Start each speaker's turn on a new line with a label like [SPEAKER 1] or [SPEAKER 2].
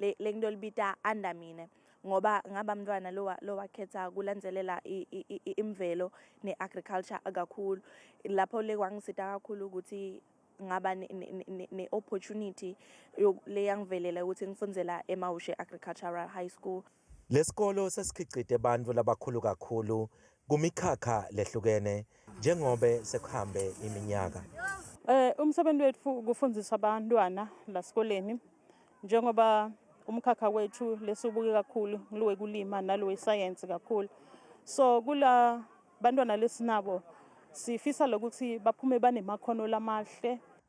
[SPEAKER 1] le le nto libita under mina ngoba ngaba mntwana lowa lowakhetha kulandzelela imvelo ne-agriculture kakhulu lapho le kwangisita kakhulu ukuthi ngaba ne-opportunity leyangivelela ukuthi ngifundzela emawushe agricultural high school Lesikolo
[SPEAKER 2] sesikhicite bantfu labakhulu kakhulu kumikhakha lehlukene njengobe sekuhambe iminyaka. Eh umsebenzi
[SPEAKER 3] wethu kufundisa abantwana lasikoleni njengoba umkhakha wethu lesibuke kakhulu nglowe kulima nalowe science kakhulu. So kula bantwana lesinabo sifisa lokuthi baphume banemakhono lamahle